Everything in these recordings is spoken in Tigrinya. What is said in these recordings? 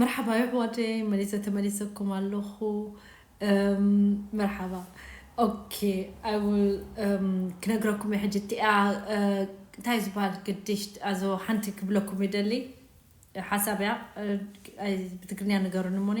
መርሓባ ይሕዋተይ መሊሰ ተመሊሰኩም ኣለኹ መርሓባ ኦኬ ኣይውል ክነግረኩም እየ ሕጂ እቲኣ እንታይ ዝበሃል ግዲሽ ኣዞ ሓንቲ ክብለኩም ይደሊ ሓሳብ እያ ብትግርኛ ንገሩኒ እሞኒ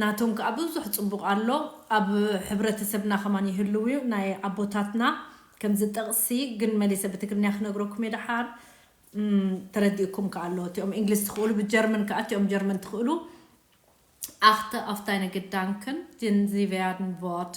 ናቶም ከኣ ብዙሕ ጽቡቅ ኣሎ ኣብ ሕብረተሰብና ከማን ይህልው እዩ ናይ ኣቦታትና ከምዚ ጥቅሲ ግን መሊሰ ብትግርንያ ክነግረኩም እየ ደሓር ተረዲኡኩም ከኣ ኣሎ እቲኦም እንግሊዝ ትክእሉ ብጀርምን ከኣ እቲኦም ጀርመን ትክእሉ ኣክተ ኣፍ ዳይነ ግዳንክን ዲን ዚቨያድን ቮርት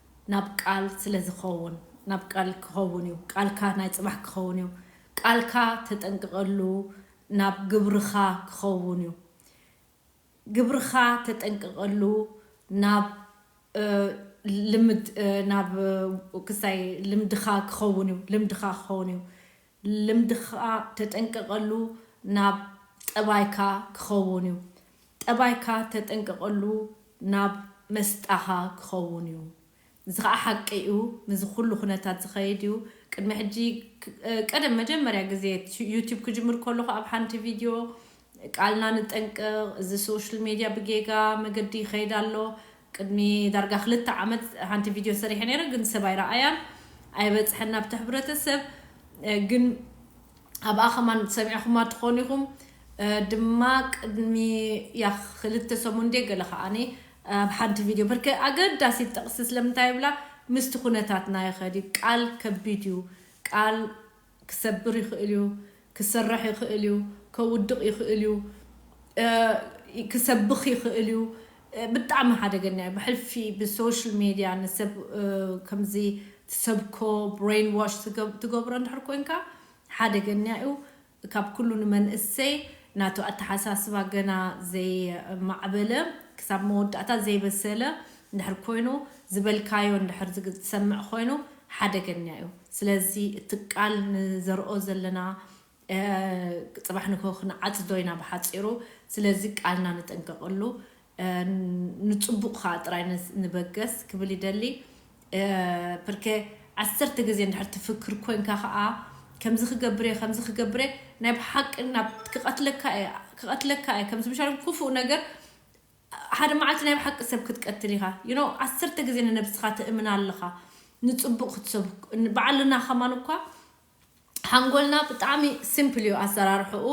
ናብ ቃል ስለ ዝኸውን ናብ ቃል ክኸውን እዩ ቃልካ ናይ ጽባሕ ክኸውን እዩ ቃልካ ተጠንቅቐሉ ናብ ግብርኻ ክኸውን እዩ ግብርኻ ተጠንቅቐሉ ናብ ልምድ ናብ ክስታይ ልምድኻ ክኸውን እዩ ልምድኻ ክኸውን እዩ ልምድኻ ተጠንቀቐሉ ናብ ጠባይካ ክኸውን እዩ። ጠባይካ ተጠንቀቐሉ ናብ መስጣኻ ክኸውን እዩ። እዚ ኸኣ ሓቂ እዩ። ምስዚ ኩሉ ኩነታት ዝኸይድ እዩ። ቅድሚ ሕጂ ቀደም መጀመርያ ግዜ ዩቱብ ክጅምር ከለኹ ኣብ ሓንቲ ቪድዮ ቃልና ንጠንቀቕ እዚ ሶሽል ሜድያ ብጌጋ መገዲ ይኸይድ ኣሎ ቅድሚ ዳርጋ ክልተ ዓመት ሓንቲ ቪድዮ ሰሪሐ ነይረ ግን ሰብ ኣይረኣያን ኣይበጽሐን ናብቲ ሕብረተሰብ ግን ኣብኣ ከማን ሰሚዕኹማ ትኾኑ ኢኹም ድማ ቅድሚ ያኽ ክልተ ሰሙን ድየ ገለ ከኣኒ ኣብ ሓንቲ ቪድዮ ብርከ ኣገዳሲት ጥቕሲ ስለምንታይ ይብላ ምስቲ ኩነታትና ይኸድ እዩ ቃል ከቢድ እዩ ቃል ክሰብር ይኽእል እዩ፣ ክሰራሕ ይኽእል እዩ፣ ከውድቕ ይኽእል እዩ፣ ክሰብኽ ይኽእል እዩ፣ ብጣዕሚ ሓደገኛ እዩ፣ ብሕልፊ ብሶሽል ሜድያ ንሰብ ከምዚ ትሰብኮ ብረይን ዋሽ ትገብሮ እንድሕር ኮንካ ሓደገኛ እዩ፣ ካብ ኩሉ ንመንእሰይ ናቱ ኣተሓሳስባ ገና ዘይማዕበለ ክሳብ መወዳእታ ዘይበሰለ እንድሕር ኮይኑ ዝበልካዮ እንድሕር ዝሰምዕ ኮይኑ ሓደገኛ እዩ። ስለዚ እቲ ቃል ንዘርኦ ዘለና ጽባሕ ንግሆ ክንዓጽዶ ኢና ብሓጺሩ ስለዚ ቃልና ንጠንቀቀሉ ንጽቡቅ ከኣ ጥራይ ንበገስ ክብል ይደሊ ፕርከ ዓሰርተ ግዜ እንድሕር ትፍክር ኮንካ ከኣ ከምዚ ክገብር እየ ከምዚ ክገብር እየ ናይ ብሓቂ ናብ ክቀትለካ እየ ክቀትለካ እየ ከምዚ ምሻሎም ኩፉእ ነገር ሓደ መዓልቲ ናይ ብሓቂ ሰብ ክትቀትል ኢኻ you know ዓሰርተ ግዜ ንነብስኻ ትእምና ኣለኻ ንጽቡቅ ክትሰብክ ን ባዓልና ከማን እኳ ሓንጎልና ብጣዕሚ simple እዩ ኣሰራርሕኡ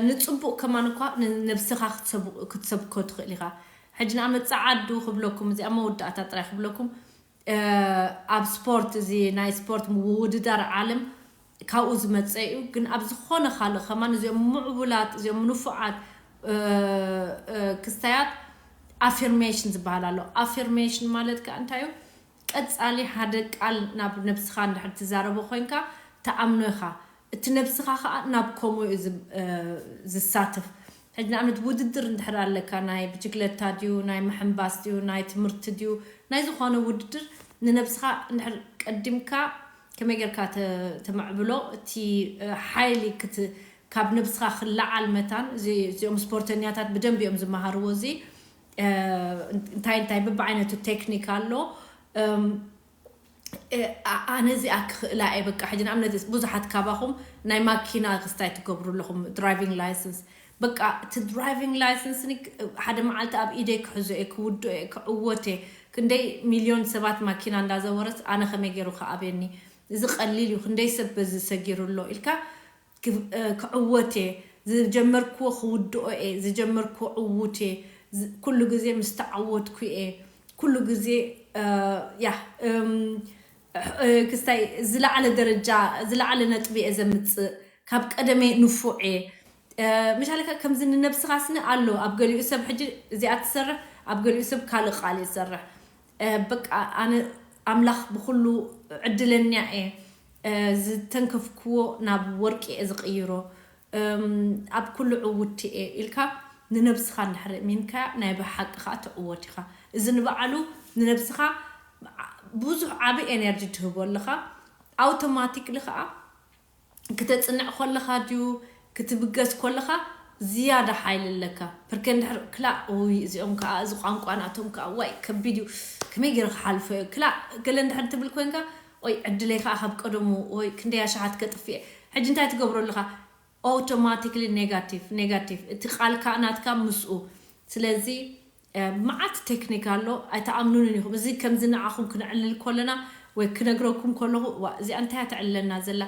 ንጽቡቅ ከማን እኳ ንነብስኻ ክትሰብ ክትሰብኮ ትኽእል ኢኻ ሕጂ ንኣመት ጸዓዱ ክብለኩም እዚ ኣብ መወዳእታ ጥራይ ክብለኩም ኣብ ስፖርት እዚ ናይ ስፖርት ምውውድዳር ዓለም ካብኡ ዝመጸ እዩ ግን ኣብ ዝኾነ ካልእ ከማን እዚኦም ምዕቡላት እዚኦም ንፉዓት ክስታያት ኣፊርሜሽን ዝበሃል ኣሎ ኣፊርሜሽን ማለት ከ እንታይ እዩ ቀጻሊ ሓደ ቃል ናብ ነብስኻ እንድሕር ትዛረቦ ኮይንካ ትኣምኖ ኢኻ እቲ ነብስኻ ከኣ ናብ ከምኡ እዩ ዝሳተፍ። ሕጂ ንኣብነት ውድድር እንድሕር ኣለካ ናይ ብችግለታ ድዩ ናይ ምሕንባስ ድዩ ናይ ትምህርቲ ድዩ ናይ ዝኾነ ውድድር ንነብስኻ እንድሕር ቀዲምካ ከመይ ጌርካ ተመዕብሎ እቲ ሓይሊ ካብ ነብስኻ ክለዓል መታን እዚኦም ስፖርተኛታት ብደንቢ እዮም ዝመሃርዎ እዚ እንታይ እንታይ በብዓይነቱ ቴክኒክ ኣሎ። ኣነ እዚኣ ክኽእላ እየ በቃ ሕጂ ንኣብነት ብዙሓት ካባኹም ናይ ማኪና ክስታይ ትገብሩ ኣለኹም ድራይቪንግ ላይሰንስ በቃ እቲ ድራይቪንግ ላይሰንስ ሓደ መዓልቲ ኣብ ኢደይ ክሕዞ እየ ክውድኦ እየ ክዕወት እየ ክንደይ ሚልዮን ሰባት ማኪና እንዳዘወረስ ኣነ ከመይ ገይሩ ክኣብየኒ እዚ ቀሊል እዩ ክንደይ ሰብ በዚ ሰጊሩ ኣሎ ኢልካ ክዕወት እየ ዝጀመርክዎ ክውድኦ እየ ዝጀመርክዎ ዕዉት እየ ኩሉ ግዜ ምስ ተዓወትኩ እየ ኩሉ ግዜ ያህ ክስታይ ዝለዓለ ደረጃ ዝለዓለ ነጥቢ እየ ዘምጽእ ካብ ቀደመይ ንፉዕ እየ ምሻለካ ከምዚ ንነብስኻ ስኒ ኣሎ ኣብ ገሊኡ ሰብ ሕጂ እዚኣ ትሰርሕ ኣብ ገሊኡ ሰብ ካልእ ቃል እየ ዝሰርሕ በቃ ኣነ ኣምላኽ ብኹሉ ዕድለኛ እየ ዝተንከፍክዎ ናብ ወርቂ እየ ዝቕይሮ ኣብ ኩሉ ዕውቲ እየ ኢልካ ንነብስኻ እንድሕር እሚንካያ ናይ ብሓቂ ከኣ ትዕወት ኢኻ እዚ ንባዕሉ ንነብስኻ ብዙሕ ዓቢ ኤነርጂ ትህቦ ኣለኻ ኣውቶማቲክሊ ከኣ ክተጽንዕ ኮለኻ ድዩ ክትብገስ ኮለኻ ዝያዳ ሓይሊ ኣለካ ፕርከ እንድሕር ክላእ ኡይ እዚኦም ከኣ እዚ ቋንቋ ናቶም ከኣ ዋይ ከቢድ እዩ ከመይ ጌረ ክሓልፎ እየ ክላእ ገለ እንድሕር ትብል ኮንካ ኦይ ዕድለይ ከኣ ካብ ቀደሙ ኦይ ክንደይ ኣሽሓት ከጥፍእ እየ ሕጂ እንታይ ትገብሮ ኣለኻ ኦውቶማቲክሊ ኔጋቲቭ ኔጋቲቭ እቲ ቃልካ ናትካ ምስኡ ስለዚ መዓት ቴክኒክ ኣሎ ኣይትኣምኑንን ኢኹም እዚ ከምዚ ንዓኹም ክነዕልል ኮለና ወይ ክነግረኩም ኮለኹ ዋእ እዚኣ እንታይ እያ ተዕልለና ዘላ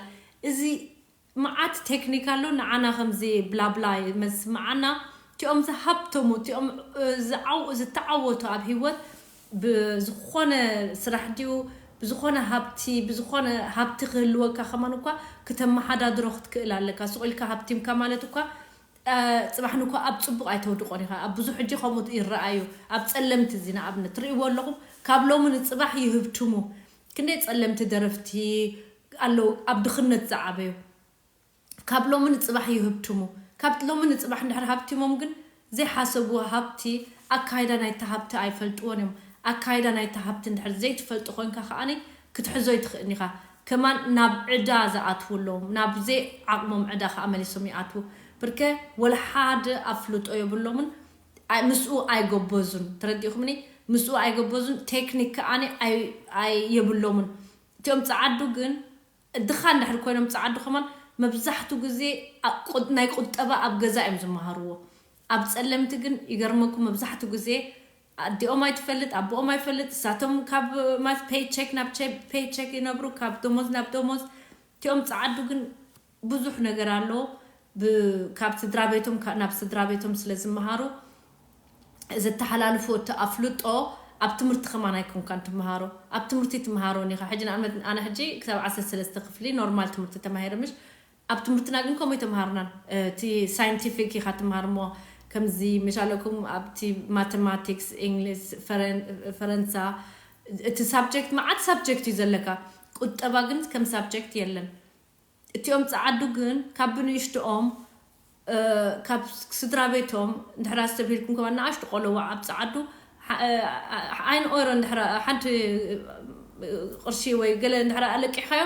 እዚ መዓት ቴክኒክ ኣሎ ንዓና ከምዚ ብላብላ መስምዓና እቲኦም ዝሃብተሙ እቲኦም ዝዓው ዝተዓወቱ ኣብ ሂወት ብዝኾነ ስራሕ ድዩ ብዝኾነ ሃብቲ ብዝኾነ ሃብቲ ክህልወካ ከማን እኳ ክተመሓዳድሮ ክትክእል ኣለካ ሱቕ ኢልካ ሃብቲምካ ማለት እኳ ጽባሕ ንግሆ ኣብ ጽቡቕ ኣይተውድቆን ኢኻ ኣብ ብዙሕ ሕጂ ከምኡ ይረኣ እዩ ኣብ ጸለምቲ እዚ ንኣብነት ትርእይዎ ኣለኹም ካብ ሎሚ ንጽባሕ ይህብትሙ ክንደይ ጸለምቲ ደረፍቲ ኣለዉ ኣብ ድኽነት ዝዓበዩ ካብ ሎሚ ንጽባሕ ይህብትሙ ካብ ሎሚ ንጽባሕ እንድሕር ሃብቲሞም ግን ዘይሓሰብዎ ሃብቲ ኣካይዳ ናይቲ ሃብቲ ኣይፈልጥዎን እዮም ኣካይዳ ናይቲ ሃብቲ እንድሕር ዘይትፈልጦ ኮንካ ከኣ ክትሕዞ ኣይትኽእን ኢኻ ከማን ናብ ዕዳ ዝኣትዉ ኣለዉ ናብ ዘይ ዓቅሞም ዕዳ ከኣ መሊሶም ይኣትዉ ብርከ ወላ ሓደ ኣፍልጦ የብሎምን ምስኡ ኣይጎበዙን ተረዲእኩምኒ ምስኡ ኣይጎበዙን ቴክኒክ ከኣ ኣይ የብሎምን እቲኦም ጸዓዱ ግን ድኻ እንድሕር ኮይኖም ጸዓዱ ከማን መብዛሕቱ ግዜ ናይ ቁጠባ ኣብ ገዛ እዮም ዝመሃርዎ ኣብ ጸለምቲ ግን ይገርመኩም መብዛሕቱ ግዜ ኣዲኦም ኣይትፈልጥ ኣቦኦም ኣይፈልጥ እሳቶም ካብ ማለት ፔይ ቸክ ናብ ፔይ ቸክ ይነብሩ ካብ ዶሞዝ ናብ ዶሞዝ እቲኦም ጸዓዱ ግን ብዙሕ ነገር ኣሎ ብ ካብ ስድራቤቶም ናብ ስድራቤቶም ስለ ዝመሃሩ ዘተሓላልፍዎ እቲ ኣፍልጦ ኣብ ትምህርቲ ከማን ኣይኮንካን ትመሃሮ ኣብ ትምህርቲ ትመሃሮን ኢኻ ሕጂ ንኣብነት ኣነ ሕጂ ክሳብ ዓሰርተ ሰለስተ ክፍሊ ኖርማል ትምህርቲ ተማሂረ ምሽ ኣብ ትምህርትና ግን ከምኡ ኣይተምሃርናን እቲ ሳይንቲፊክ ኢካ ትምሃር እሞ ከምዚ መሻለኩም ኣብቲ ማተማቲክስ ኢንግሊስ ፈረንሳ እቲ ሳብጀክት መዓት ሳብጀክት እዩ ዘለካ ቁጠባ ግን ከም ሳብጀክት የለን እቲኦም ጸዓዱ ግን ካብ ብንእሽትኦም ካብ ስድራቤቶም እንድሕር ኣስተብሂልኩም ከማን ንኣሽቱ ቆሎዉዕ ኣብ ጸዓዱ ሓ ኣይን ኦይሮ እንድሕር ሓንቲ ቅርሺ ወይ ገለ እንድሕር ኣለቂሕካዮ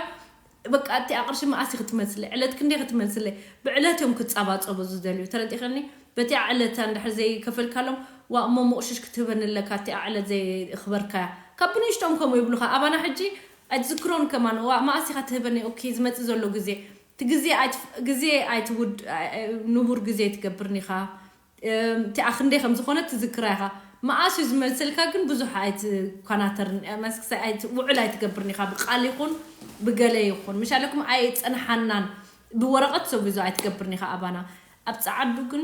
በቃ እቲኣ ቅርሺ መኣስ ክትመጽለ ዕለት ክንደይ ክትመጽለ ብዕለት እዮም ክጻባጸቡ ዝደልዩ ተረዲኸኒ በቲኣ ዕለት እንድሕር ዘይከፈልካሎም ዋእ እሞ ሞቕሽሽ ክትህበኒ ኣለካ እቲኣ ዕለት ዘየኽበርካያ ካብ ብንእሽቶም ከምኡ ይብሉኻ ኣባና ሕጂ ኣይትዝክሮን ከማን ዋእ መኣስ ኢኻ ትህበኒ ኦኪ ዝመጽእ ዘሎ ግዜ እቲ ግዜ ኣይትፍ ግዜ ኣይትውድ ንቡር ግዜ ትገብርን ኢኻ እቲኣ ክንደይ ከም ዝኾነት ትዝክራ ኢኻ መኣስ እዩ ዝመልሰልካ ግን ብዙሕ ኣይትኳናተርን መኣስ ኣይት ውዑል ኣይትገብርን ኢኻ ብቃል ይኹን ብገለ ይኹን ምሽ ኣለኩም ኣይጸንሓናን ብወረቐት ሰጉዞ ኣይትገብርን ኢኻ ኣባና ኣብ ጸዓዱ ግን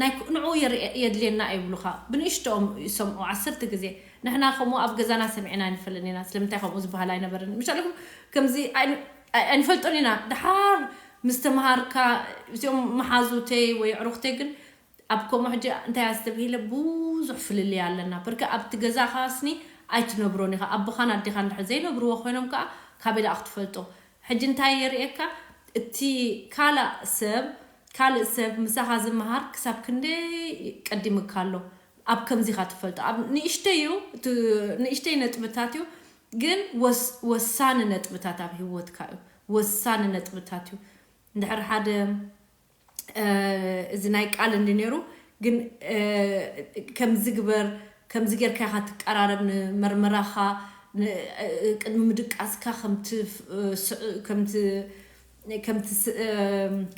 ናይ ንዕኡ የርእ የድልየና ይብሉኻ ብንእሽትኦም ይሰምዑ ዓሰርተ ግዜ ንሕና ከምኡ ኣብ ገዛና ሰሚዕና ኣይንፈልጥን ኢና ስለምንታይ ከምኡ ዝባሃል ኣይነበረን ምሻልኩም ከምዚ ኣይንፈልጦን ኢና ድሓር ምስ ተማሃርካ እዚኦም መሓዙተይ ወይ ኣዕሩኽተይ ግን ኣብ ከምኡ ሕጂ እንታይ ኣስተብሂለ ብዙሕ ፍልልይ ኣለና በርከ ኣብቲ ገዛኻ ስኒ ኣይትነብሮን ኢኻ ኣቦኻን ኣዴኻን ድሕር ዘይነብርዎ ኮይኖም ከኣ ካበይ ደኣ ክትፈልጦ ሕጂ እንታይ የርእየካ እቲ ካላእ ሰብ ካልእ ሰብ ምሳኻ ዝመሃር ክሳብ ክንደይ ቀዲምካ ኣሎ ኣብ ከምዚ ኢኻ ትፈልጦ ኣብ ንእሽተይ እዩ እቲ ንእሽተይ ነጥብታት እዩ ግን ወስ ወሳኒ ነጥብታት ኣብ ሂወትካ እዩ ወሳኒ ነጥብታት እዩ እንድሕር ሓደ እዚ ናይ ቃል እንዲ ነይሩ ግን ከምዚ ግበር ከምዚ ጌርካ ኢኻ ትቀራረብ ንመርመራኻ ቅድሚ ምድቃስካ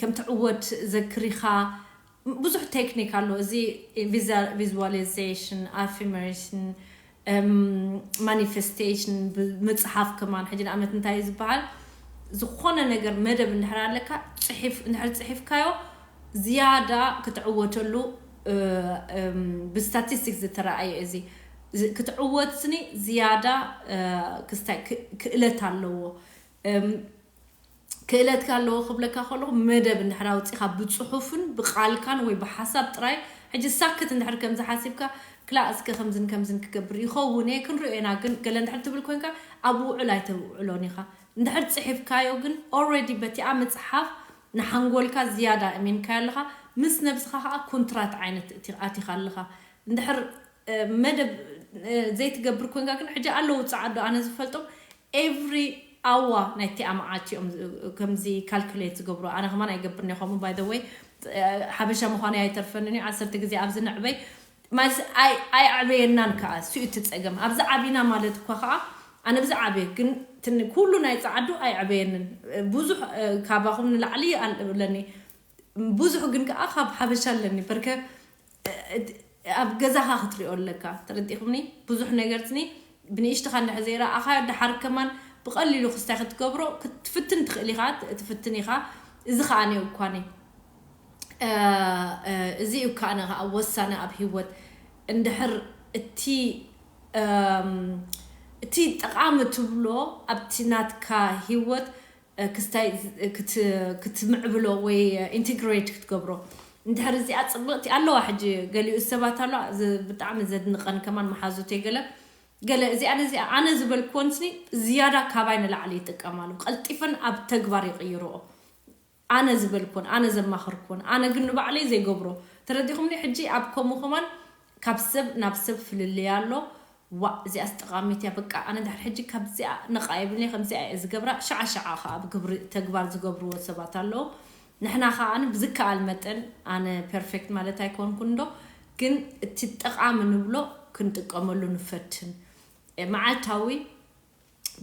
ከምትዕወት ዘክሪኻ ብዙሕ ቴክኒክ ኣሎ እዚ ቪዝዋሊዘሽን ኣፊርሜሽን ማኒፈስቴሽን ምፅሓፍ ከማን ሕጂ ንኣብነት እንታይ እዩ ዝበሃል ዝኾነ ነገር መደብ እንድሕር ኣለካ ፅሒፍ እንድሕር ፅሒፍካዮ ዝያዳ ክትዕወተሉ ብስታቲስቲክስ ዝተረኣየ እዚ ክትዕወት ስኒ ዝያዳ ክስታይ ክእለት ኣለዎ። ክእለትካ ኣለዎ ክብለካ ከለኹ መደብ እንድሕር ኣውጺኻ ብጽሑፍን ብቃልካን ወይ ብሓሳብ ጥራይ ሕጂ ሳክት እንድሕር ከምዚ ሓሲብካ ክላእ እስከ ከምዝን ከምዝን ክገብር ይኸውን እየ ክንሪኦ ኢና ግን ገለ እንድሕር ትብል ኮንካ ኣብ ውዑል ኣይተውዕሎን ኢኻ እንድሕር ጽሒፍካዮ ግን ኦልሬዲ በቲኣ ምጽሓፍ ንሓንጎልካ ዝያዳ እሚንካዮ ኣለኻ ምስ ነብስኻ ከኣ ኩንትራት ዓይነት እቲ ኣቲኻ ኣለኻ እንድሕር መደብ ዘይትገብር ኮንካ ግን ሕጂ ኣለዉ ጸዓዱ ኣነ ዝፈልጦም ኤቭሪ ኣዋ ናይቲኣ መዓልቲ እዮም ከምዚ ካልኩሌት ዝገብሩ ኣነ ከማን ኣይገብርን እየ ከምኡ ባይ ዘ ወይ ሓበሻ ምዃነይ ኣይተርፈንን እዩ ዓሰርተ ግዜ ኣብዚ ንዕበይ ማለት ኣይኣዕበየናን ከኣ እሱ እዩ እቲ ጸገም ኣብዚ ዓቢና ማለት እኳ ከኣ ኣነ ብዚ ዓብየ ግን ኩሉ ናይ ጸዓዱ ኣይዕበየንን ብዙሕ ካባኹም ንላዕሊ ኣለኒ ብዙሕ ግን ከኣ ካብ ሓበሻ ኣለኒ በርከ ኣብ ገዛኻ ክትሪኦ ኣለካ ተረዲኩምኒ ብዙሕ ነገርትኒ ብንእሽትኻ እንድሕር ዘይረኣኻዮ ደሓር ከማን ብቀሊሉ ክስታይ ክትገብሮ ክትፍትን ትኽእል ኢኻ ትፍትን ኢኻ እዚ ከኣ ኔ እኳኒ እዚ እዩ ከኣ ከኣ ወሳነ ኣብ ሂወት እንድሕር እቲ እቲ ጠቃሚ ትብሎ ኣብቲ ናትካ ሂወት ክስታይ ክትምዕብሎ ወይ ኢንቲግሬት ክትገብሮ እንድሕር እዚኣ ጽብቕቲ ኣለዋ ሕጂ ገሊኡ ሰባት ኣለዋ ብጣዕሚ ዘድንቐን ከማን መሓዙተይ ገለ ገለ እዚኣ ነዚኣ ኣነ ዝበልክወን ስኒ ዝያዳ ካባይ ንላዕሊ ይጥቀማሉ ቀልጢፈን ኣብ ተግባር ይቕይርኦ ኣነ ዝበልክወን ኣነ ዘማኸርክወን ኣነ ግን ንባዕለይ ዘይገብሮ ተረዲኹምኒ ሕጂ ኣብ ከምኡ ከማን ካብ ሰብ ናብ ሰብ ፍልልይ ኣሎ። ዋእ እዚኣስ ጠቓሚት እያ በቃ ኣነ ድሕሪ ሕጂ ካብዚኣ ነቓ የብልንየ ከምዚኣ እየ ዝገብራ ሽዓ ሽዓ ከኣ ኣብ ግብሪ ተግባር ዝገብርዎ ሰባት ኣለዉ ንሕና ከኣ ብዝከኣል መጠን ኣነ ፐርፌክት ማለት ኣይኮንኩን እንዶ ግን እቲ ጠቓሚ ንብሎ ክንጥቀመሉ ንፈትን መዓልታዊ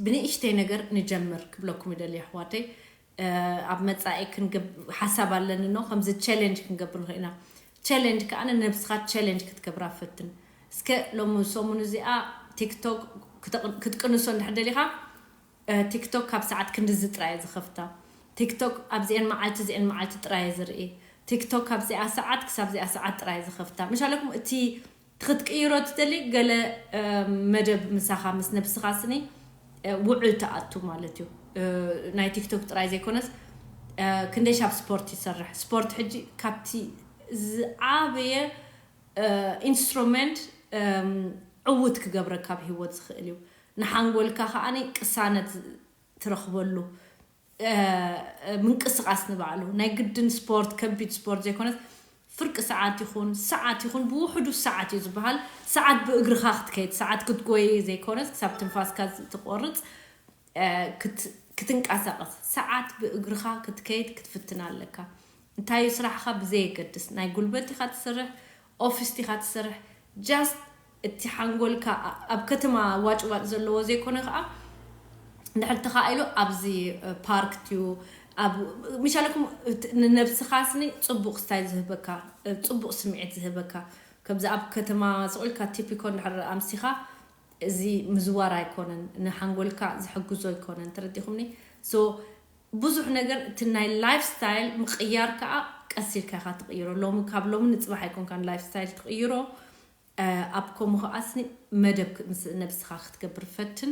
ብንእሽተይ ነገር ንጀምር ክብለኩም ይደሊ የሕዋተይ ኣብ መጻኢ ሓሳብ ኣለኒ ን ከምዚ ቸለንጅ ክንገብር ንክእል ኢና ቸለንጅ ከኣ ንነብስካ ቸለንጅ ክትገብራ ፈትን እስከ ሎሚ ሰሙን እዚኣ ቲክቶክ ክትቅንሶ እንድሕር ደሊካ ቲክቶክ ካብ ሰዓት ክንድዚ ጥራይ እየ ዝከፍታ ቲክቶክ ኣብዚኤን መዓልቲ እዚኤን መዓልቲ ጥራይ እየ ዝርኢ ቲክቶክ ካብዚኣ ሰዓት ክሳብ እዚኣ ሰዓት ጥራይ እየ ዝከፍታ ምሽ ኣለኩም እቲ ክትቅይሮ ትደሊ ገለ መደብ ምሳኻ ምስ ነብስኻ ስኒ ውዑል ትኣቱ ማለት እዩ ናይ ቲክቶክ ጥራይ ዘይኮነስ ክንደይ ሻብ ስፖርት ይሰርሕ ስፖርት ሕጂ ካብቲ ዝዓበየ ኢንስትሮመንት ዕውት ክገብረካ ኣብ ሂወት ዝኽእል እዩ ንሓንጎልካ ከኣ ቅሳነት ትረኽበሉ ምንቅስቓስ ንባዕሉ ናይ ግድን ስፖርት ከቢድ ስፖርት ዘይኮነስ ፍርቂ ሰዓት ይኹን ሰዓት ይኹን ብውሕዱ ሰዓት እዩ ዝበሃል ሰዓት ብእግርኻ ክትከይድ ሰዓት ክትጎይ ዘይኮነስ ክሳብ ትንፋስካ ዝትቆርፅ ክትንቃሳቐስ ሰዓት ብእግርኻ ክትከይድ ክትፍትን ኣለካ እንታይ እዩ ስራሕኻ ብዘየገድስ ናይ ጉልበት ዲኻ ትስርሕ ኦፊስ ዲኻ ትስርሕ ጃስት እቲ ሓንጎልካ ኣብ ከተማ ዋጭ ዋጭ ዘለዎ ዘይኮነ ከኣ እንድሕር ተኻኢሉ ኣብዚ ፓርክ ቲዩ ኣብ ምሻለኩም ንነብስኻ ስኒ ጽቡቕ ስታይል ዝህበካ ጽቡቕ ስምዒት ዝህበካ ከምዚ ኣብ ከተማ ስቕ ኢልካ ቲፒኮ እንድሕር ኣምሲኻ እዚ ምዝዋር ኣይኮነን ንሓንጎልካ ዝሕግዞ ኣይኮነን ተረዲኹምኒ ሶ ብዙሕ ነገር እቲ ናይ ላይፍ ስታይል ምቕያር ከኣ ቀስ ኢልካ ኢኻ ትቕይሮ ሎሚ ካብ ሎሚ ንጽባሕ ኣይኮንካን ላይፍ ስታይል ትቕይሮ ኣብ ከምኡ ከኣስኒ መደብ ምስ ነብስካ ክትገብር ፈትን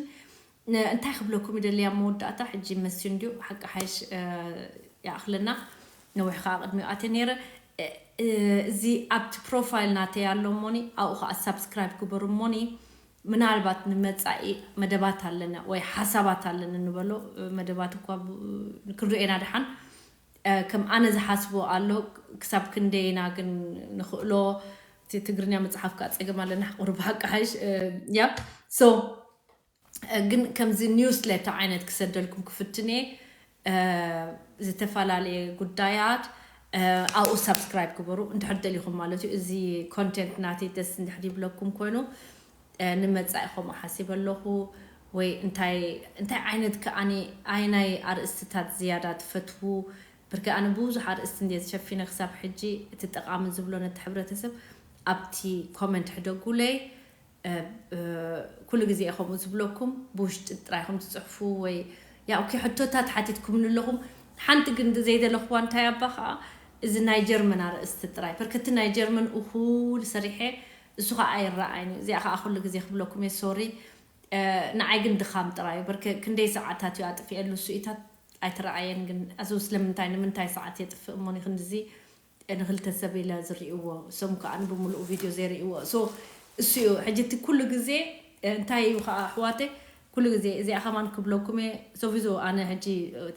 እንታይ ክብለኩም ይደሊ ኣብ መወዳእታ ሕጂ ይመስዩ እንድዩ ሓቂ ሓይሽ ይኣክለና ነዊሕ ከኣ ቅድሚኡ ኣትየ ነይረ እዚ ኣብቲ ፕሮፋይል ናተይ ኣሎ እሞኒ ኣብኡ ከኣ ሳብስክራይብ ግበሩ እሞኒ ምናልባት ንመጻኢ መደባት ኣለና ወይ ሓሳባት ኣለኒ ንበሎ መደባት እኳ ክንርእየና ደሓን ከም ኣነ ዝሓስቦ ኣሎ ክሳብ ክንደይ ኢና ግን ንክእሎ እቲ ትግርኛ መጽሓፍ ከኣ ጸገም ኣለና ሕቁር ብሓቂ ሓይሽ ያ ሶ ግን ከምዚ ኒውስ ሌተር ዓይነት ክሰደልኩም ክፍትን እየ ዝተፈላለየ ጉዳያት ኣብኡ ሳብስክራይብ ግበሩ እንድሕር ደሊኹም ማለት እዩ እዚ ኮንቴንት ናተይ ደስ እንድሕር ይብለኩም ኮይኑ ንመጻኢኹም እሓሲበ ኣለኹ ወይ እንታይ እንታይ ዓይነት ከኣ ኣየናይ ኣርእስትታት ዝያዳ ትፈትዉ ብርግኣ ኣነ ብዙሕ ኣርእስቲ እንድየ ዝሸፊነ ክሳብ ሕጂ እቲ ጠቓሚ ዝብሎ ነቲ ሕብረተሰብ ኣብቲ ኮመንት ሕደጉለይ ኩሉ ግዜ እየ ከምኡ ዝብለኩም ብውሽጢ ጥራይ ኢኹም ትጽሕፉ ወይ ያው ኦኬ ሕቶታት ሓቲትኩምኒ ኣለኹም ሓንቲ ግን ዘይደለኽዋ እንታይ ኣባ ከኣ እዚ ናይ ጀርመን ኣርእስቲ ጥራይ በርከቲ ናይ ጀርመን እኹል ሰሪሐ እሱ ከኣ ኣይረኣይን እዩ እዚኣ ከኣ ኩሉ ግዜ ክብለኩም እየ ሶሪ ንዓይ ግን ድኻም ጥራይ እዩ ብርክ ክንደይ ሰዓታት እዩ ኣጥፊኤሉ እሱ ኢታት ኣይተረኣየን ግን ኣዙ ስለምንታይ ንምንታይ ሰዓት የጥፍእ እሞ ንክንድዚ ንክልተ ሰብ ኢለ ዝሪእዎ እሶም ከኣ ንብምሉኡ ቪድዮ ዘይሪእዎ እሱ እሱ እዩ ሕጂ እቲ ኩሉ ግዜ እንታይ እዩ ከኣ ኣሕዋተይ ኩሉ ግዜ እዚኣ ከማን ክብለኩም እየ ሶፊዙ ኣነ ሕጂ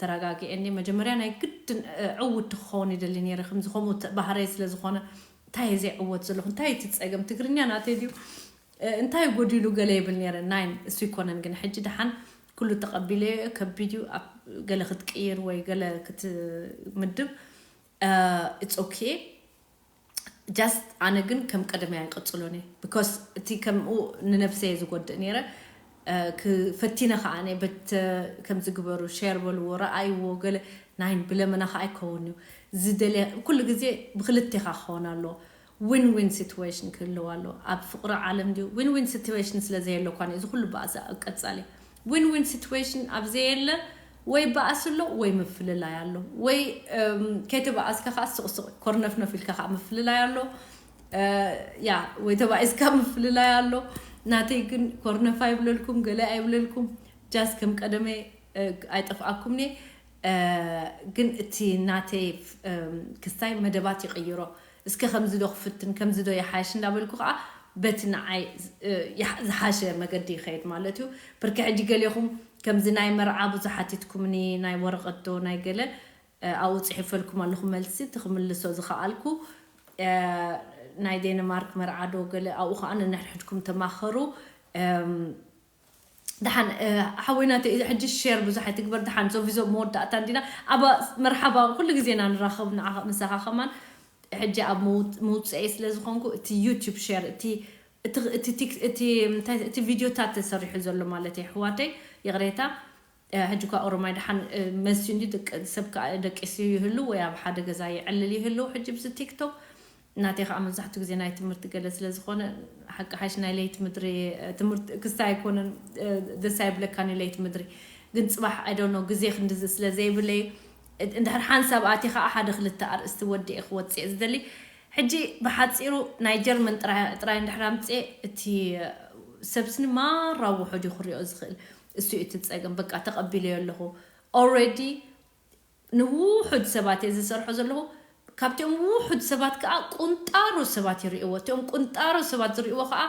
ተረጋጊኤ እንድየ መጀመርያ ናይ ግድን ዕውቲ ክኸውን ይደሊ ነይረ ከምዚ ከምኡ ባህረይ ስለ ዝኾነ እንታይ እየ ዘይዕወት ዘለኹ እንታይ እዩ እቲ ፀገም ትግርኛ ናተይ ድዩ እንታይ እዩ ጎዲሉ ገለ ይብል ነይረ ናይ እሱ ይኮነን ግን ሕጂ ደሓን ኩሉ ተቐቢለ እየ ከቢድ እዩ ገለ ክትቅይር ወይ ገለ ክትምድብ ኢትስ ኦኬ ጃስት ኣነ ግን ከም ቀደመይ ኣይቅፅሎን እየ ቢኮስ እቲ ከምኡ ንነብሰ እየ ዝጎድእ ነይረ ክ ፈቲነ ከኣ ኣነ በት ከምዚ ግበሩ ሸር በልዎ ረኣይዎ ገለ ናይ ብለመና ከኣ ኣይከውን እዩ ዝደለ ኩሉ ግዜ ብክልቴካ ክከውን ኣለዎ ዊን ዊን ሲትወሽን ክህልው ኣለዎ ኣብ ፍቅሪ ዓለም ድዩ ዊን ዊን ሲትወሽን ስለ ዘየለ እኳ እዩ እዚ ኩሉ ባእሲ ኣብ ቀጻሊ ዊን ዊን ሲትወሽን ኣብ ዘየለ ወይ ባእሲ ኣሎ ወይ ምፍልላይ ኣሎ ወይ ከይተባኣስካ ከኣ ስቅ ስቅ ኮርነፍነፍ ኢልካ ከኣ ምፍልላይ ኣሎ ያ ወይ ተባኢስካ ምፍልላይ ኣሎ ናተይ ግን ኮርነፍ ኣይብለልኩም ገለ ኣይብለልኩም ጃስ ከም ቀደመይ ኣይጠፍኣኩም እየ ግን እቲ ናተይ ክስታይ መደባት ይቕይሮ እስከ ከምዚ ዶ ክፍትን ከምዚ ዶ ይሓይሽ እንዳበልኩ ከዓ በቲ ንዓይ ዝሓሸ መገዲ ይኸይድ ማለት እዩ ብርኪ ሕጂ ገሌኹም ከምዚ ናይ መርዓ ብዙሕ ሓቲትኩምኒ ናይ ወረቐት ዶ ናይ ገለ ኣብኡ ጽሒፈልኩም ኣለኹ መልሲ እቲ ክምልሶ ዝኸኣልኩ ናይ ዴንማርክ መርዓ ዶ ገለ ኣብኡ ከኣ ነንሕድሕድኩም ተማኸሩ ደሓን ሓወይ ናተይ ሕጂ ሼር ብዙሕ ኣይትግበር ደሓን ዞቪዞ መወዳእታ እንዲና ኣብ መርሓባ ኩሉ ግዜ ኢና ንራኸብ ምሳኻ ከማን ሕጂ ኣብ መውጽኤ ስለ ዝኾንኩ እቲ ዩቲዩብ ሼር እቲ እቲ ቪድዮታት ተሰሪሑ ዘሎ ማለት የሕዋተይ ይቕሬታ ሕጂ እኳ ኦሮማይ ደሓን መዝዩ እንድዩ ድቂ ሰብ ከኣ ደቂሱ ይህሉ ወይ ኣብ ሓደ ገዛ ይዕልል ይህሉ ሕጂ ብዚ ቲክቶክ ናተይ ከኣ መብዛሕቱ ግዜ ናይ ትምህርቲ ገለ ስለ ዝኮነ ሓቂ ሓሽ ናይ ለይቲ ምድሪ ትምህርቲ ክስታይ ኣይኮነን ደስ ኣይብለካን ዩ ለይቲ ምድሪ ግን ጽባሕ ኣይ ዶንት ኖው ግዜ ክንድዚ ስለ ዘይብለይ እንድሕር ሓንሳብ ኣትየ ከኣ ሓደ ክልተ ኣርእስቲ ወዲኤ ክወጽእ እየ ዝደሊ ሕጂ ብሓጺሩ ናይ ጀርመን ጥራይ ጥራይ እንድሕር ኣምጽኤ እቲ ሰብስኒ ማራ ውሑድ ዩ ክሪኦ ዝክእል እሱ እዩ እቲ ፀገም በቃ ተቀቢለዮ ኣለኩ already ንዉሑድ ሰባት እየ ዝሰርሖ ዘለኩ ካብቲኦም ዉሑድ ሰባት ከዓ ቁንጣሮ ሰባት ይሪእዎ እቲኦም ቁንጣሮ ሰባት ዝሪእዎ ከዓ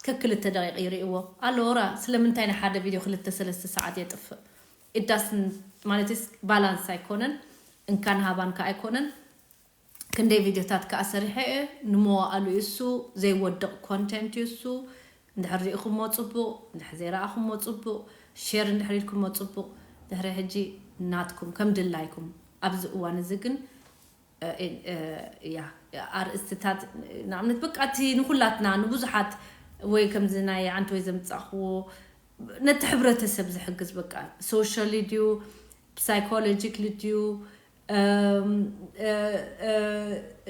ከክልተ ደቂቅ ይሪእዎ ኣሎራ ስለምንታይ ንሓደ ቪድዮ ክልተ ሰለስተ ሰዓት የጥፍእ it doesn't ማለትስ ባላንስ ኣይኮነን እንካን ሃባን ከዓ ኣይኮነን ክንደይ ቪድዮታት ከኣ ሰሪሐ እየ ንመዋእሉ እዩ እሱ ዘይወድቕ ኮንቴንት እዩ እሱ እንድሕር ሪኢኹሞ ጽቡቕ እንድሕር ዘይረኣኹሞ ጽቡቕ ሼር እንድሕር ኢልኩሞ ጽቡቕ ድሕሪ ሕጂ ናትኩም ከም ድላይኩም ኣብዚ እዋን እዚ ግን እያ ኣርእስትታት ንኣብነት በቃ እቲ ንኹላትና ንብዙሓት ወይ ከምዚ ናይ ኣንቲ ወይ ዘምጻኹዎ ነቲ ሕብረተሰብ ዝሕግዝ በቃ ሶሻሊ ድዩ ሳይኮሎጂክሊ ድዩ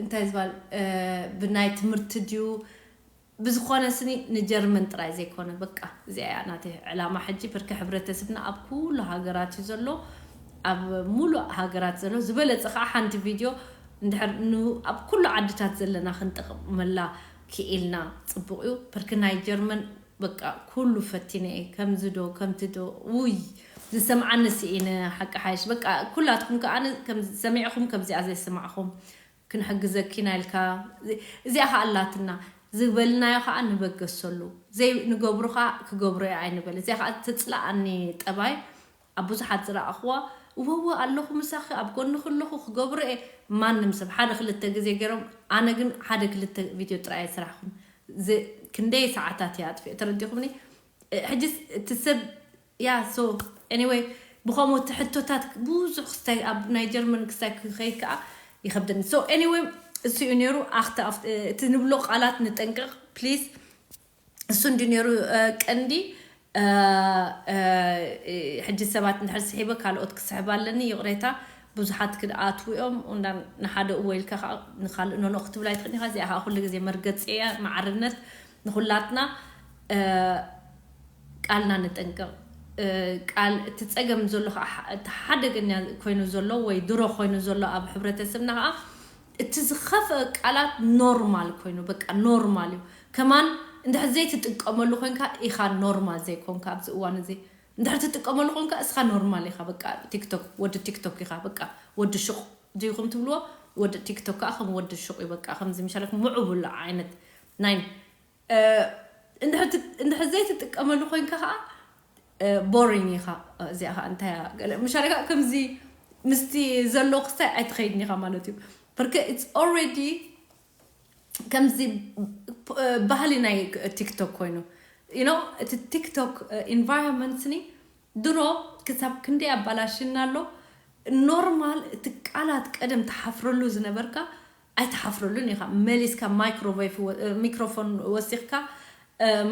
እንታይ ዝባል ብናይ ትምህርቲ ድዩ ብዝኮነ ስኒ ንጀርመን ጥራይ ዘይኮነ በቃ እዚኣ እያ ናተይ ዕላማ ሕጂ ብርኪ ሕብረተስብና ኣብ ኩሉ ሃገራት እዩ ዘሎ ኣብ ሙሉእ ሃገራት ዘሎ ዝበለጸ ከዓ ሓንቲ ቪድዮ እንድሕር ኣብ ኩሉ ዓድታት ዘለና ክንጠቅመላ ክኢልና ጽቡቅ እዩ ብርኪ ናይ ጀርመን በቃ ኩሉ ፈቲነ እየ ከምዚ ዶ ከምቲ ዶ ውይ ዝሰምዓኒ ስኢነ ሓቂ ሓይሽ በቃ ኩላትኩም ከኣ ከምዚ ሰሚዕኹም ከምዚኣ ዘይስማዕኹም ክንሕግዘኪ ኢና ኢልካ እዚኣ ከኣ ኣላትና ዝበልናዮ ከኣ ንበገሰሉ ዘይ ንገብሮ ከኣ ክገብሮ እየ ኣይንበል እዚኣ ከኣ ትጽልኣኒ ጠባይ ኣብ ብዙሓት ዝረኣኹዋ እወወ ኣለኹ ምሳኺ ኣብ ጎንኺ ኣለኹ ክገብሮ'የ ማንም ሰብ ሓደ ክልተ ግዜ ጌሮም ኣነ ግን ሓደ ክልተ ቪድዮ ጥራይ'የ ስራሕኩም ዝ ክንደይ ሰዓታት እየ ኣጥፊኤ ተረዲኹምኒ ሕጂስ እቲ ሰብ ያ ሶ ኤኒወይ ብኸምኡ እቲ ሕቶታት ብዙሕ ክስታይ ኣብ ናይ ጀርመን ክስታይ ክኸይድ ከኣ ይኸብደኒ ሶ ኤኒወይ እሱ'ዩ ኔሩ ኣኽታ እቲ ንብሎ ቃላት ንጠንቀቕ ፕሊስ እሱ እንዲ ነይሩ ቀንዲ ሕጂ ሰባት እንድሕር ስሒበ ካልኦት ክስሕብ ኣለኒ ይቕሬታ ብዙሓት ክድኣትዉ እዮም እንዳ ንሓደ እወ ኢልካ ከዓ ንካልእ ኖኖ ክትብል ኣይትኽእልን ኢኻ እዚኣ ከዓ ኩሉ ግዜ መርገፂ እያ ማዕርነት ንኹላትና ቃልና ንጠንቀቕ ቃል እቲ ፀገም ዘሎ ከዓ እቲ ሓደገኛ ኮይኑ ዘሎ ወይ ድሮ ኮይኑ ዘሎ ኣብ ሕብረተሰብና ከዓ እቲ ዝኸፍእ ቃላት ኖርማል ኮይኑ በቃ ኖርማል እዩ ከማን እንድሕር ዘይትጥቀመሉ ኮንካ ኢኻ ኖርማል ዘይኮንካ ኣብዚ እዋን እዚ እንድሕር ትጥቀመሉ ኮንካ እስኻ ኖርማል ኢኻ በቃ ቲክቶክ ወዲ ቲክቶክ ኢኻ በቃ ወዲ ሹቕ ድይኹም ትብልዎ ወዲ ቲክቶክ ከኣ ከም ወዲ ሹቕ እዩ በቃ ከምዚ ምሻለኩም ሙዑቡል ዓይነት ናይ እንድሕር ዘይትጥቀመሉ ኮይንካ ከኣ ቦሪንግ ኢኻ እዚኣ ከኣ እንታይ እያ ገለ ምሻለ ከኣ ከምዚ ምስቲ ዘሎ ክስታይ ኣይትኸይድን ኢኻ ማለት እዩ ብርክ ኢትስ ኦልሬዲ ከምዚ ባህሊ ናይ ቲክቶክ ኮይኑ ዩኖ እቲ ቲክቶክ ኢንቫይሮንመንትኒ ድሮ ክሳብ ክንደይ ኣባላሽና ኣሎ ኖርማል እቲ ቃላት ቀደም ተሓፍረሉ ዝነበርካ ኣይትሓፍረሉን ኢኻ መሊስካ ማይክሮቮይፍ ሚክሮፎን ወሲኽካ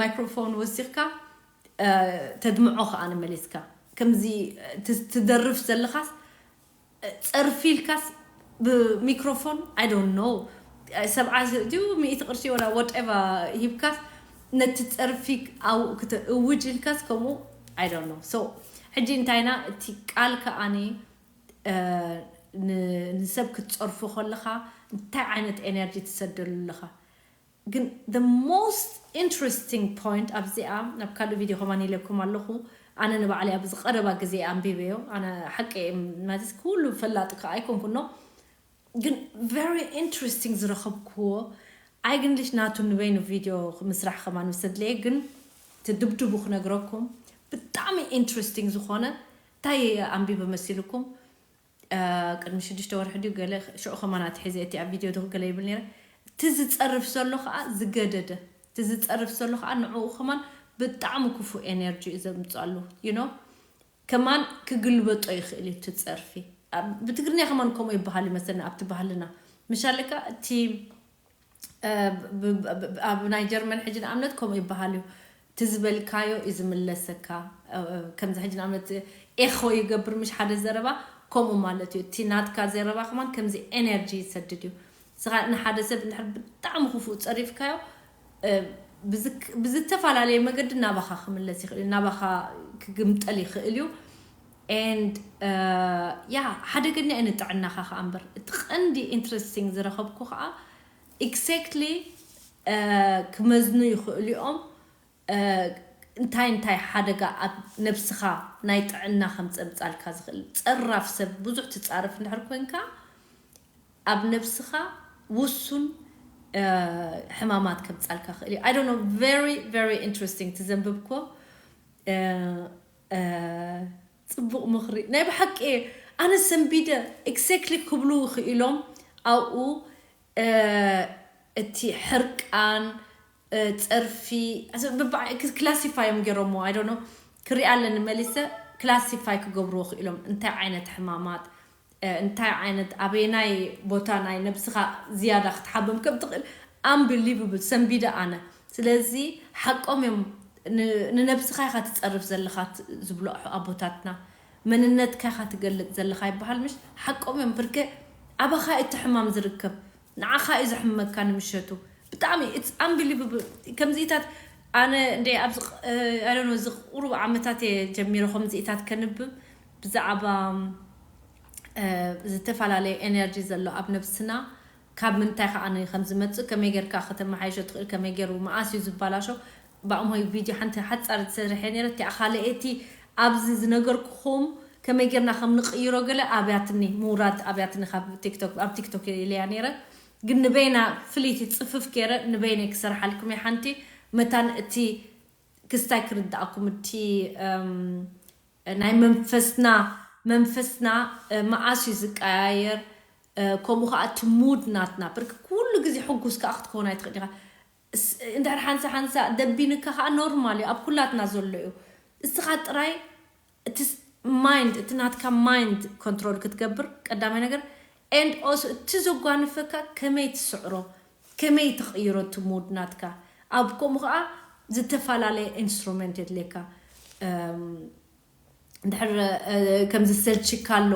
ማይክሮፎን ወሲኽካ ተድምዖ ከኣ መሊስካ ከምዚ ትደርፍ ዘለኻስ ጸርፊ ኢልካስ ብሚክሮፎን ኣይ ዶንት ኖ ሰብዓ ድዩ ሚእቲ ቅርሺ ወላ ወደቫ ሂብካስ ነቲ ጸርፊ ኣብኡ ክተእውጅ ኢልካስ ከምኡ ኣይ ዶንት ኖ ሶ ሕጂ እንታይና እቲ ቃል ከኣኒ ንሰብ ክትጸርፎ ከለኻ እንታይ ዓይነት ኤነርጂ ትሰደሉ ኣለኻ ግን the most interesting point ኣብዚኣ ናብ ካልእ ቪድዮ ከማን ኢለኩም ኣለኹ ኣነ ንባዕለይ ኣብዚ ቀረባ ግዜ ኣንቢበዮ ኣነ ሓቂ እየ ማለት ኩሉ ፈላጢ ከኣ ኣይኮንኩን ኖ ግን very interesting ዝረኸብክዎ ኣይግንልሽ ናቱ ንበይኑ ቪድዮ ምስራሕ ከማን ምስ ኣድለየ ግን እቲ ድብድቡ ክነግረኩም ብጣዕሚ interesting ዝኾነ ታይ ኣንቢበ መሲሉኩም ቅድሚ ሽዱሽተ ወርሒ ድዩ ገለ ሽዑ ከማን ኣትሒዘ እየ እቲ ኣብ ቪድዮ ድኽ ገለ ይብል ነይረ እቲ ዝጸርፍ ዘሎ ከኣ ዝገደደ እቲ ዝጸርፍ ዘሎ ከኣ ንዕኡ ከማን ብጣዕሚ ክፉእ ኤነርጂ እዩ ዘምጽኣሉ you know ከማን ክግልበጦ ይኽእል እዩ እቲ ጸርፊ ብትግርኛ ከማን ከምኡ ይበሃል ይመስለኒ ኣብቲ ባህልና ምሻለካ እቲ ኣብ ናይ ጀርመን ሕጂ ንኣብነት ከምኡ ይበሃል እዩ እቲ ዝበልካዮ እዩ ዝምለሰካ ከምዚ ሕጂ ንኣብነት ኤኾ ይገብር ምሽ ሓደ ዘረባ ከምኡ ማለት እዩ እቲ ናትካ ዘረባ ከማን ከምዚ ኤነርጂ ይሰድድ እዩ ስኻ ንሓደ ሰብ እንድሕር ብጣዕሚ ክፉእ ጸሪፍካዮ ብዝተፈላለየ መገዲ ናባኻ ክምለስ ይኽእል እዩ ናባኻ ክግምጠል ይኽእል እዩ and yeah ሓደገኛ ዩ ንጥዕናኻ ከኣ እምበር እቲ ቀንዲ interesting ዝረኸብኩ ከኣ exactly ክመዝኑ ይኽእሉ ዮም እንታይ እንታይ ሓደጋ ኣብ ነብስኻ ናይ ጥዕና ከምጸምጻልካ ዝኽእል ጸራፍ ሰብ ብዙሕ ትጻረፍ እንድሕር ኮንካ ኣብ ነብስኻ ውሱን ሕማማት ከምጻልካ ይኽእል ዩ I don't know very very interesting እቲ ዘንብብኩዎ ጽቡቅ ምኽሪ ናይ ብሓቂ እየ ኣነ ሰንቢደ Exactly ክብሉ ኽኢሎም ኣብኡ እቲ ሕርቃን ጸርፊ Classify እዮም ጌሮምዎ I don't know ክሪኣ ኣለኒ መሊሰ Classify ክገብርዎ ኽኢሎም እንታይ ዓይነት ሕማማት እንታይ ዓይነት ኣበየናይ ቦታ ናይ ነብስኻ ዝያዳ ክትሓብም ከም ትኽእል ኣንብሊቭብል ሰንቢደ ኣነ ስለዚ ሓቆም እዮም ን ንነብስኻ ኢኻ ትጸርፍ ዘለኻ ዝብሉ ኣቦታትና መንነትካ ኢኻ ትገልጽ ዘለኻ ይብሃል ምሽ ሓቆም እዮም ብርከ ኣባኻ እዩ እቲ ሕማም ዝርከብ ንዓኻ እዩ ዘሕምመካ ንምሸቱ ብጣዕሚ it's unbelievable ከምዚኢታት ኣነ እንድየ ኣብዚ I don't know እዚ ቁሩብ ዓመታት እየ ጀሚረ ከምዚኢታት ከንብብ ብዛዕባ ዝተፈላለየ energy ዘሎ ኣብ ነብስና ካብ ምንታይ ከኣ ከምዝመጽእ ከመይ ጌርካ ከተመሓይሾ ትኽእል ከመይ ጌሩ መኣስ እዩ ዝባላሾ ባእማይ ቪድዮ ሓንቲ ሓጻር ዝሰሪሐ ኔረ እቲኣ ካልእ እየ እቲ ኣብዚ ዝነገርኩኹም ከመይ ጌርና ከም ንቕይሮ ገለ ኣብያትኒ ምውራድ ኣብያትኒ ካብ ቲክቶክ ኣብ ቲክቶክ እየ ኢለያ ኔረ ግን ንበይና ፍልይቲ ጽፍፍ ጌረ ንበይነይ ክሰርሓልኩም እየ ሓንቲ መታን እቲ ክስታይ ክርድኣኩም እቲ ናይ መንፈስና መንፈስና መዓስ እዩ ዝቀያየር ከምኡ ከኣ እቲ ሙድ ናትና ብርክ ኩሉ ግዜ ሕጉስ ከኣ ክትከውን ኣይትኽእል ኢኻ እስ እንድሕር ሓንሳ ሓንሳ ደቢንካ ከኣ ኖርማል ዩ ኣብ ኩላትና ዘሎ ዩ እስኻ ጥራይ እቲ ማይንድ እቲ ናትካ ማይንድ ኮንትሮል ክትገብር ቀዳማይ ነገር and also እቲ ዘጓንፈካ ከመይ ትስዕሮ ከመይ ትቕይሮ እቲ ሙድ ናትካ ኣብ ከምኡ ከኣ ዝተፋላለየ ኢንስትሮመንት የድልየካ እም እንድሕር ከም ዘሰልችካ ኣሎ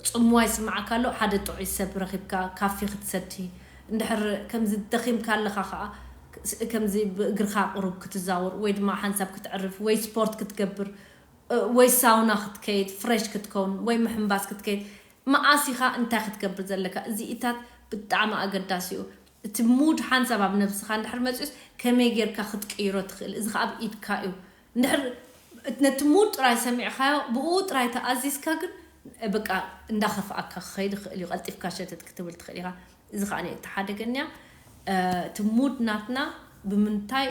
ጽምዋ ይስምዓካ ኣሎ ሓደ ጥዑይ ሰብ ረኺብካ ካፊ ክትሰቲ እንድሕር ከምዚ ደኺምካ ኣለኻ ከኣ ከምዚ ብእግርካ ቁሩብ ክትዛወር ወይ ድማ ሓንሳብ ክትዕርፍ ወይ ስፖርት ክትገብር ወይ ሳውና ክትከይድ ፍረሽ ክትከውን ወይ ምሕንባስ ክትከይድ መኣስ ኢኻ እንታይ ክትገብር ዘለካ እዚኢታት ብጣዕሚ ኣገዳሲ እዩ እቲ ሙድ ሓንሳብ ኣብ ነብስኻ እንድሕር መጽዩስ ከመይ ጌርካ ክትቅይሮ ትኽእል እዚ ከኣ ኣብ ኢድካ እዩ እንድሕር ነቲ ሙድ ጥራይ ሰሚዕካዮ ብእኡ ጥራይ ተኣዚዝካ ግን በቃ እንዳኸፍኣካ ክኸይድ ይኽእል እዩ ቀልጢፍካ ሸተት ክትብል ትኽእል ኢኻ እዚ ከኣ እቲ ሓደ ገንያ እቲ ሙድ ናትና ብምንታይ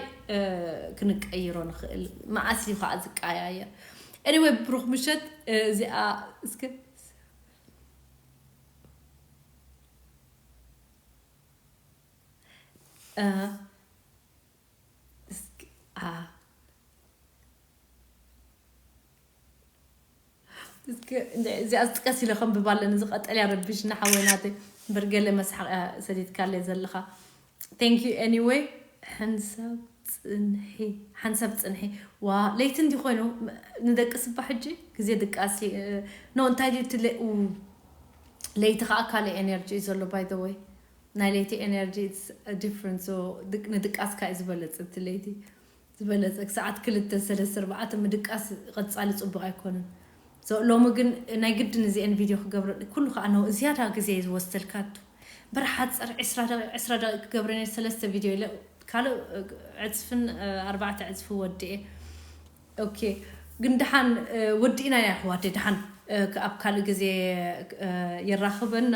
ክንቀይሮ ንኽእል መኣስ እዩ ከኣ ዝቀያየር ኤኒወይ ብሩኽ ምሸት እዚኣ እስከ Uh, እስኪ ኣ እስኪ እንድዒ እዚኣ ዝጥቀስ ኢለ ከንብብ ኣለኒ እዚ ቀጠልያ ረቢሽና ሓወይ ናተይ እምበር ገለ መስሓቕ እያ ሰዲድካለይ ዘለኻ ቴንክ ዩ ኤኒወይ ሕንሳብ ፅንሒ ሓንሳብ ፅንሒ ዋ ለይቲ እንዲ ኮይኑ ም- ንደቂ ስባ ሕጂ ግዜ ድቃስ እዩ እ፣ ኖ እንታይ ድዩ እቲ ለ- ኡ፣ ለይቲ ከዓ ካልእ ኤነርጂ እዩ ዘሎ ባይ ዘ ወይ ናይ ለይቲ ኤነርጂ ኢትስ ዲፍረንት ሶ ንድቃስካ እዩ ዝበለጽ እቲ ለይቲ ዝበለጸ ክሳዓት ክልተ ሰለስተ ኣርባዕተ ምድቃስ ቐጻሊ ጽቡቅ ኣይኮነን ሶ ሎሚ ግን ናይ ግድን እዚኤን ቪድዮ ክገብረ ኩሉ ካኣ ን ዝያዳ ግዜ እዩ ዝወስደልካ ኣቱ እምበር ሓጽር ዕስራ ደቂቅ ዕስራ ደቂቅ ክገብረ ነይረ ሰለስተ ቪድዮ ኢለ ካልእ ዕጽፍን ኣርባዕተ ዕጽፊ ወዲኤ ኦኬ ግን ደሓን ወዲእናያ የሕዋተይ ደሓን ኣብ ካልእ ግዜ የራኽበና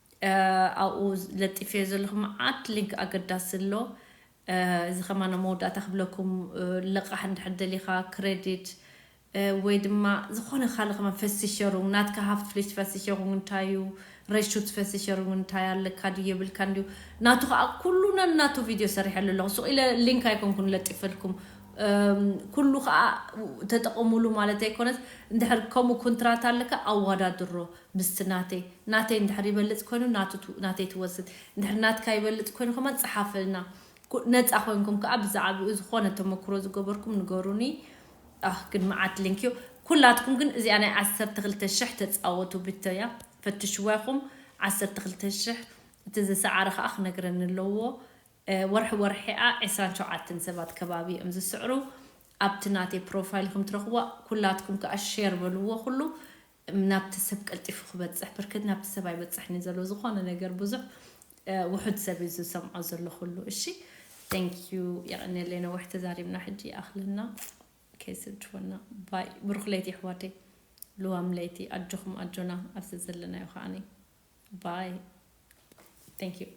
ኣብኡ ለጢፈዮ ዘለኹ መዓት ሊንክ ኣገዳሲ ኣሎ እዚ ከማን ኣብ መወዳእታ ክብለኩም ልቓሕ እንድሕር ደሊኻ ክረዲት ወይ ድማ ዝኾነ ካልእ ከማን ፈሲሸሩንግ ናትካ ሃፍት ፍሊሽ ፈሲሸሩንግ እንታይ እዩ ረሹት ፈሲሸሩንግ እንታይ ኣለካ ድዩ የብልካን ድዩ ናቱ ከዓ ኩሉ ነናቱ ቪድዮ ሰሪሐሉ ኣለኹ ሱቕ ኢለ ሊንክ ኣይኮንኩን ለጢፈልኩም ኩሉ ከዓ ተጠቐሙሉ ማለት ኣይኮነት እንድሕር ከምኡ ኮንትራት ኣለካ ኣዋዳድሮ ምስቲ ናተይ ናተይ እንድሕር ይበልጽ ኮይኑ ናቱ ናተይ ትወስድ እንድሕር ናትካ ይበልጽ ኮይኑ ከማን ጽሓፈልና ነጻ ኮንኩም ከኣ ብዛዕብኡ ዝኮነ ተመክሮ ዝገበርኩም ንገሩኒ ኣህ ግን መዓት ሊንክ እዩ ኩላትኩም ግን እዚኣ ናይ ዓሰርተ ክልተ ሽሕ ተጻወቱ ብቶ እያ ፈትሽዋ ኢኩም ዓሰርተ ክልተ ሽሕ እቲ ዝሰዓረ ከኣ ክነግረኒ ኣለዎ ወርሒ ወርሒ እያ ዕስራን ሸውዓተን ሰባት ከባቢ እዮም ዝስዕሩ ኣብቲ ናተይ ፕሮፋይል ኢኩም ትረክብዋ ኩላትኩም ከኣ ሼር በልዎ ኩሉ ናብቲ ሰብ ቀልጢፉ ክበጽሕ ብርክት ናብቲ ሰብ ኣይበጽሕን እዩ ዘሎ ዝኮነ ነገር ብዙሕ ውሑድ ሰብ እዩ ዝሰምዖ ዘሎ ኩሉ እሺ Thank you የቀንየለይ ነዊሕ ተዛሪብና ሕጂ ይኣክለና ከይስልችወና ባይ ብሩክ ለይቲ የሕዋተይ ልዋም ለይቲ ኣጆኩም ኣጆና ኣብ ዘዘለናዮ ከዓኒ ባይ Thank you